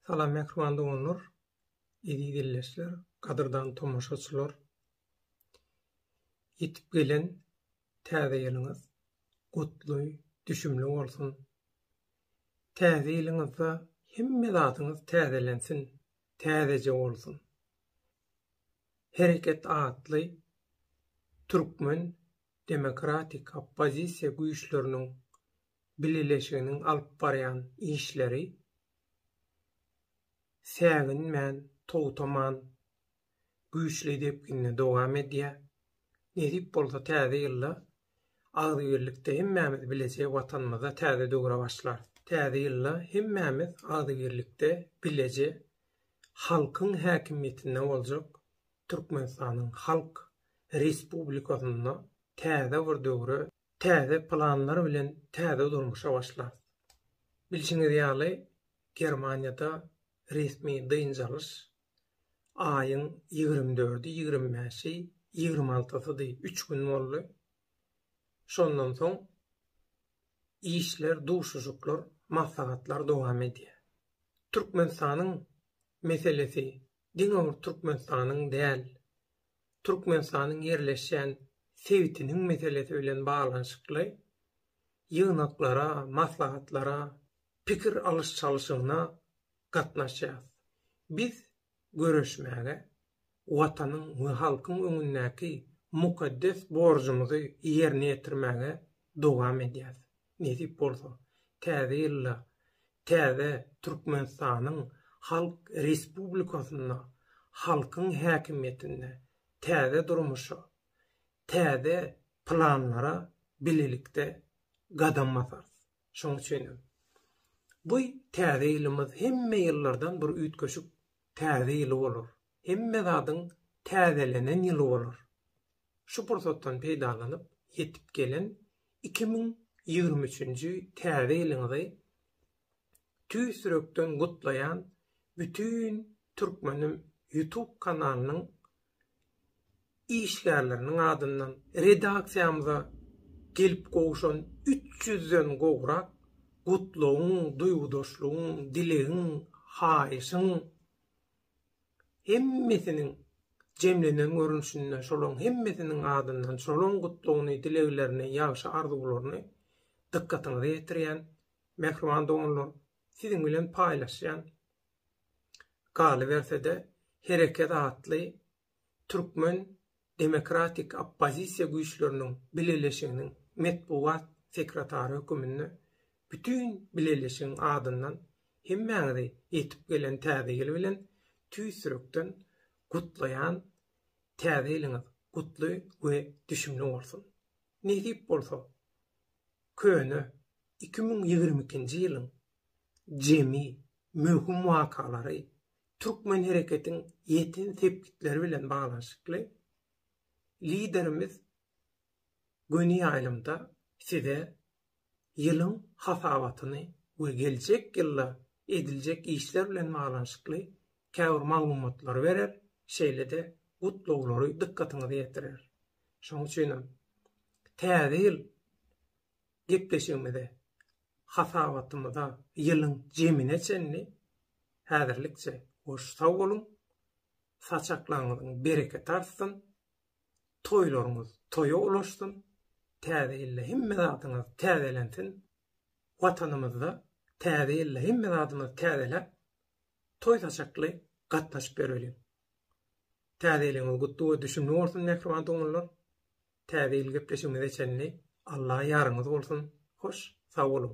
Salam mähriban doganlar, eziz illeşler, gadyrdan tomaşaçylar. Ýetip gelen täze ýylyňyz gutly, düşümli bolsun. Täze ýylyňyzda hemme zadyňyz täzelensin, täzeje bolsun. Hereket atly türkmen demokratik oppozisiýa güýçleriniň bileleşiginiň alyp barýan işleri säginmän, togtaman güýçli depginde dowam edýär. Nesip bolsa täze ýylda agzybirlikde hemmämiz bileje Watanymyzda täze döwre başlarys. Täze ýylda hemmämiz agzybirlikde bileje halkyň häkimiýetinde boljak Türkmenistanyň Halk Respublikasynda täze bir döwre, täze planlar bilen täze durmuşa başlarys. Bilşiňiz ýaly, Germaniýada resmi dynç alyş aýyň ýigrimi dördi, ýigrimi bäşi, ýigrimi altysydy, üç gün boldy. Şondan soň işler, duşuşyklar, maslahatlar dowam edýär. Türkmenistanyň meselesi diňe bir Türkmenistanyň däl, Türkmenistanyň ýerleşýän sebitiniň meselesi bilen baglanyşykly ýygnaklara, maslahatlara, pikir alyş-çalşygyna gatnaşýarys. Biz göreşmäge, Watanyň we halkyň öňündäki mukaddes borjumyzy ýerine ýetirmäge dowam edýäris. Nesip bolsa, täze ýylda täze Türkmenistanyň Halk Respublikasynda halkyň häkimiýetinde täze durmuşa, täze planlara bilelikde gadam basarys. Şonuň üçin hem, bu täze ýylymyz hemme ýyllardan bir üýtgeşik täze ýyly bolar. Hemme zadyň täzelenen ýyly bolar. Şu pursatdan peýdalanyp, ýetip gelen iki müň ýigrimi üçünji Täze ýylyňyzy tüýs ýürekden gutlaýan Bütin Türkmenim YouTube kanalynyň işgärleriniň adyndan, redaksiýamyza gelip gowşan üç ýüzden gowrak gutlagyň, duýgudaşlygyň, dilegiň, haýyşyň, hemmesiniň jemlenen görnüşinde şolaryň hemmesiniň adyndan şolaryň gutlagyny, dileglerini, ýagşy arzuwlaryny dykgatyňyza ýetirýän, mähriban doganlar, siziň bilen paýlaşýan, galyberse-de, Hereket atly Türkmen demokratik oppozisiýa güýçleriniň bileleşiginiň metbugat sekretary höküminde bütin bileleşigiň adyndan hemmäňizi ýetip gelen Täze ýyl bilen tüýs ýürekden gutlaýan, Täze ýylyňyz gutly we düşümli bolsun! Nesip bolsa, köne iki müň ýigrimi ikinji ýylyň jemi möhüm wakalary Türkmen hereketiň ýeten sepgitleri bilen baglanyşykly Liderimiz göni ýaýlymda size ýylyň hasabatyny we geljek ýylda ediljek işler bilen baglanyşykly käbir maglumatlary berer, şeýle-de gutlaglary dykgatyňyza ýetirer. Şonuň üçin hem Täze ýyl Gepleşigimizi hasabatymyza ýylyň jemine çenli häzirlikçe hoş sag boluň, saçaklaryňyzyň bereketi artsyn, toýlaryňyz toýa ulaşsyn, täze ýylda hemme zadyňyz täzelensin, Watanymyzda täze ýylda hemme zadymyzy täzeläp, toý-saçakly gatnaşyp ýöreliň. Täze ýylyňyz gutly we düşümli bolsun mähriban doganlar! Täze ýyl gepleşigimize çenli Alla ýaryňyz bolsun. Hoş, sag boluň.